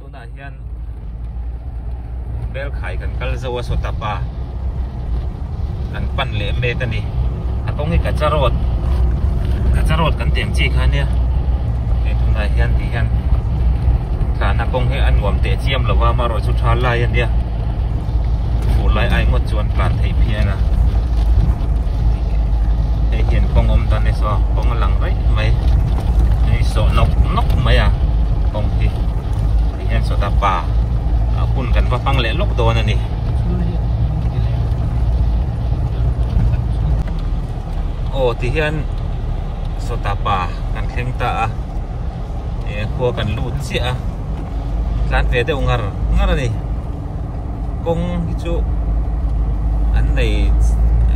tunah hian bel khai kan kal zo a saw tap a kan pan leh mek a ni a kawng hi kacha road kacha road kan tih ang chi kha nia he tunah hian tih hian thlahna kawng hi a nuam teh chiam lo a amarawhchu tha lai a nia hmuh lai ai ngawt chu an tlan thei phian a hei hian kawng awm dan ni saw a kawng a lang raih mai nui sawh nawk nawk mai a kawng hi hei hian sawta pa a hun kan va hmang leh lawk dawn a ni aw ti hian sawta pa kan thleng ta a e khua kan lut chiah a tlat ve deuh ngar ngar a ni kawng hi chu an nei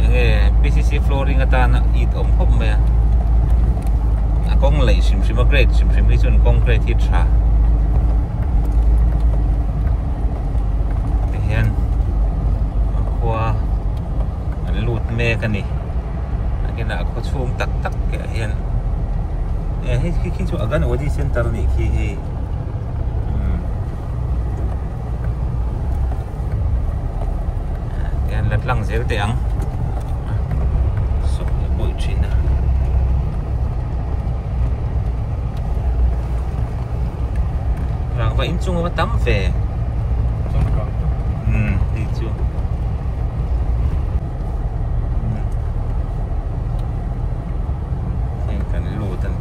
eng nge pcc flooring atana it awm khawp mai a a kawng laih hrim hrim a grade hrim hrim hi chuan concrete hi a tha tihian a khua an lut mek a ni takin a khaw chhung tak tak ah hian e hei khi chu Aghanuddin centre a nih khi hei. tlang zel teh ang sawm leh bawi thin a rangva inchung a va tam ve umm hei chu hei kan lut a ni.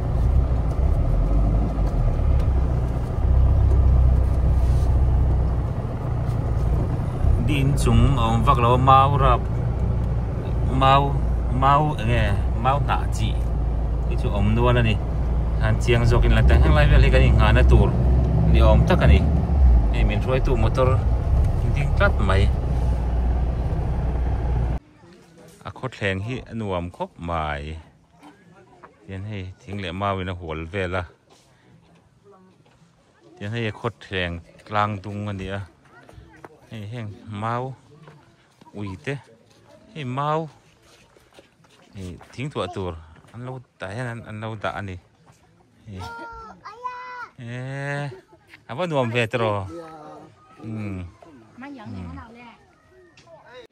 inchung a awm vak lo mau rap mau mau eng nge mau hnah chi te chu a awm nual a ni han chiang zawk in tah heng lai vel hi kan in nghahna tur ni awm tak a ni hei min hruaitu motor ding tlat mai a khawthleng hi a nuam khawp mai. tin hei thing leh mau in a hual vel a tin hei khawthleng tlang dung a ni a hei heng mau ui te hei mau ih thing thluah tur an lo tah hian an an lo dah a ni hei eehh a va nuam ve ta raw umm umm.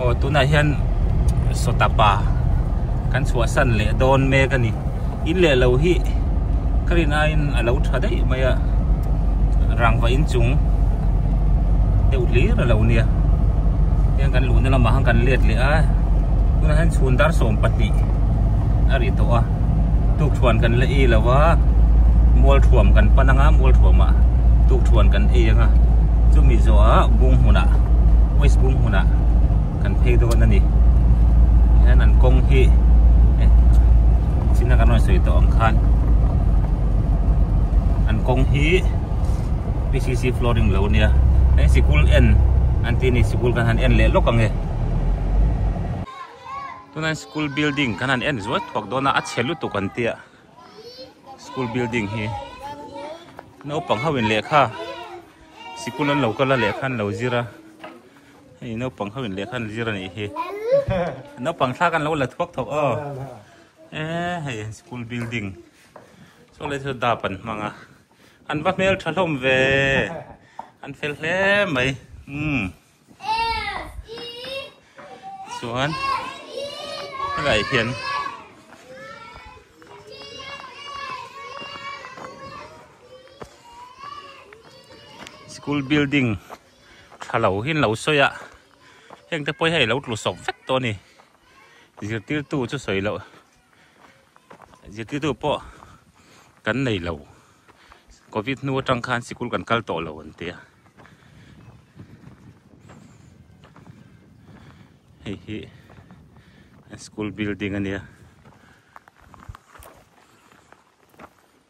Aw tunah hian sawtapa kan chhuahsan leh dawn mek a ni. In leh lo hi ka rin aiin a lo tha daih mai a, rangva inchung deuh hlir a lo nia. Heng kan luhna lamah khan kan let leh a, tunah hian chhun dar sawm pahnih a ri tawh a. tukthluan kan la ei lo a mualthuam kan pan anga mualthuamah tukthluan kan ei anga chumi zawha bung hunah waste bung hunah kan phei dawn a ni hian an kawng hi eh china kan rawn sawi tawh ang khan an kawng hi PCC flooring lo nia eh sikul en an tih ni sikul kan han en leh lawk ang e tunah hian school building kan han en zual thuak dawn a a chhe lutuk an tia school building hi naupang ho in lehkha sikul an lo kal a lehkha an lo zir a hei naupang ho in lehkha an zir a nih hi naupang thla kan lo la thuak thawk aw e hei school building saw lai chu da pan hmang a an va hmel tha hlawm ve an fel hle mai um chuan helai hian school building tha lo hi an lo sawi a hengte pawh hi a lo tlu sawm fek tawh a ni zirtirtu chu sawi loh. Zirtirtu pawh kan nei lo, Covid hnu atang khan sikul kan kal tawh lo an ti a. Hei hi school building a nia.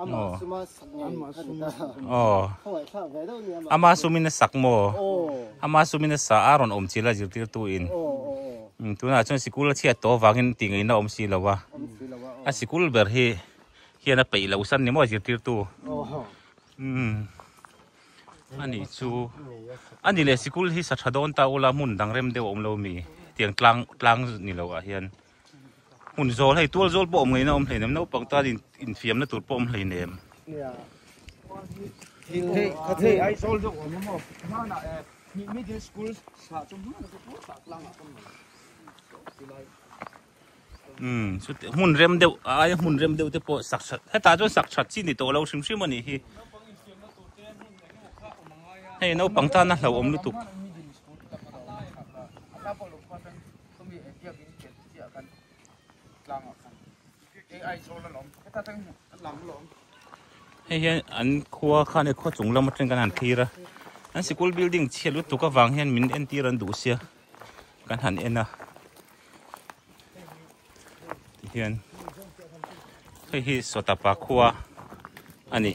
Amah suma sak ngei Amah suma sak ngei Aww Khawai thlak ve deuh nia Amah sumina sak maw Aww Amah sumina sa a rawn awm chila zirtirtu in Aww Tunah chuan sikul a chhiat tawh avangin tih ngaihna awm si lo a Awm si lo a A sikul ber hi hian a peih lo san ni maw zirtirtu Aww Umm A ni chu A ni leh sikul hi sa tha dawn ta ula hmun dang rem deuh a awm lo mi tiang tlang tlang ni lo ah hian. Hmun zawl hei tual zawl pawh awm ngei na awm hleinem naupang tan in in fiam na tur pawh awm hleinem. Umm chute hmun rem deuh a aia hmun rem deuh te pawh sak that hetah chuan sak that chi ni tawh lo hrim hrim a nih hi. Hei naupang tana hlauhawm lutuk. Chumi e biak in ken chiah kan tlang ah khan ai chawl a la awm khawp tak in a tlang la awm. Hei hian an khua khan e khua chung lam atang kan han thlir a. An sikul building chhiat lutuk avang hian min entir an duh sia kan han en a. Hian hei hi sawtah pa khua a ni.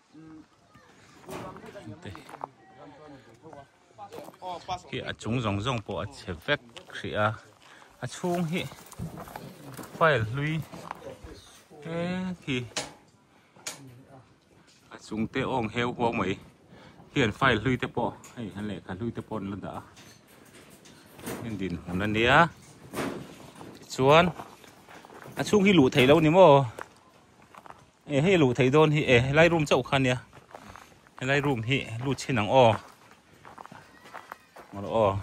khi a chung zawng zawng pawh a chhe vek hrih a a chhung hi file hlui eng khi a chung te awm heu huang mai khian file hlui te pawh hei han lehkha hlui te pawh an la dah a heng din hmun a nia tichuan a chhung hi luh theih lo ni maw. E hei luh thei dawn hi e helai room chauh kha nia helai room hi lut chin ang aw ngawlh aw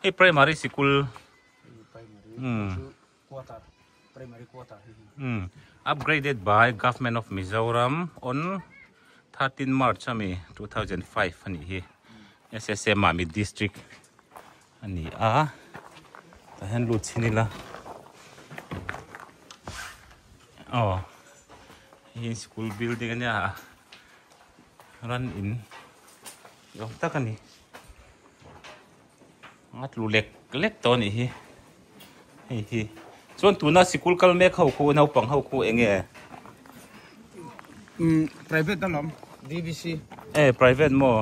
hei primary sikul um um upgraded by government of mizoram on thirteen march ami two thousand five ani hi ssm ami district A ni a, tah hian lut chhin ila. Aw, hei hi school building a nia a, ran in ni awm tak a ni. A tlu lek lek tawh a nih hi, hei hi. Chuan tuna sikul kal mek ho khu, naupang ho khu eng nge? Umm, private a lam, DVC. E, private maw?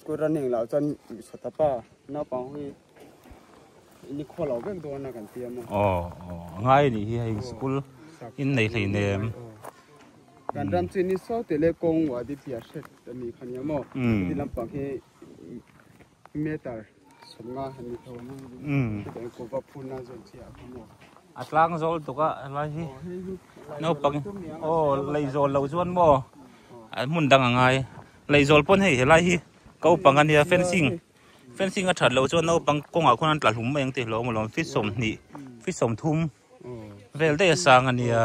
School ran heng lah chuan hmeichhe ta pa naupang hi in i khualo vek dawn a kan ti a maw. Aw aw a ngai anih hi hei school in nei hlei nem. Kan ram chu ni sau teh le kawng uah dipia hret a ni kha nia maw. Khawti lampang hi meter. A tlang zawl tuk a helai hi naupang in aw lei zawl loh chuan maw an hmun dang a ngai lei zawl pawn hei helai hi ko pang a nia fencing fencing a that loh chuan naupang kawngah khuan an tla hlum mai ang tih hlawm alawm feet sawmhnih feet sawmthum vel daih a sang a nia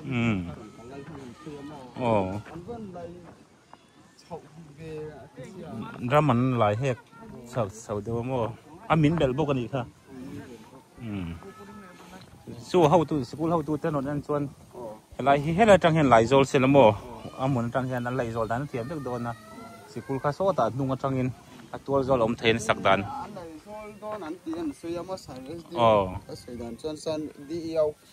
umm aw. Drum an lai hek chau chau deuh a maw a min belh bawk a nih kha umm chu a hotu sikul hotu te rawn en chuan helai hi helai atang hian Laizawl se la maw a hmun atang hian an Laizawl dan a thiam vek dawn a sikul kha sawtah a hnung atangin a tual zual a awm thei a insak dan Laizawl dawn an tih a ni sawi a maw sir SDO a sawi dan chuan san DEO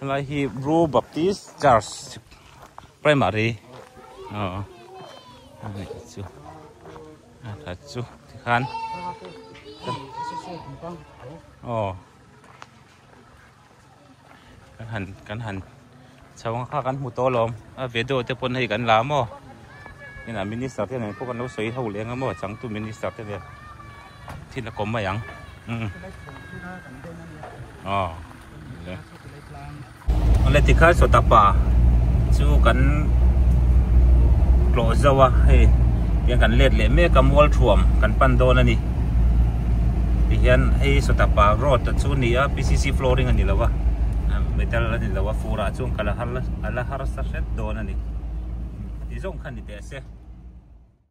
Helai hi Blue Baptist Church Primary aw ani chu a chu tikhan aw kan han kan han Chhau ang kha kan hmu tawh alawm a vedo te pawn hei kan la maw inah minister te nen pawh kan lo sawi ho leh ang emaw changtu minister te nen thil a kawm mai ang aw le ale tikha saw tapa chu kan tlawh zo a hei tiang kan let leh mek a mual thuam kan pan dawn a ni tihian hei saw tapa road chu ni a pcc flooring a ni lo a metal a ni. lo a furah chuan ka la har la a la harsa hret dawn a ni ti zawng kha ni teh ase.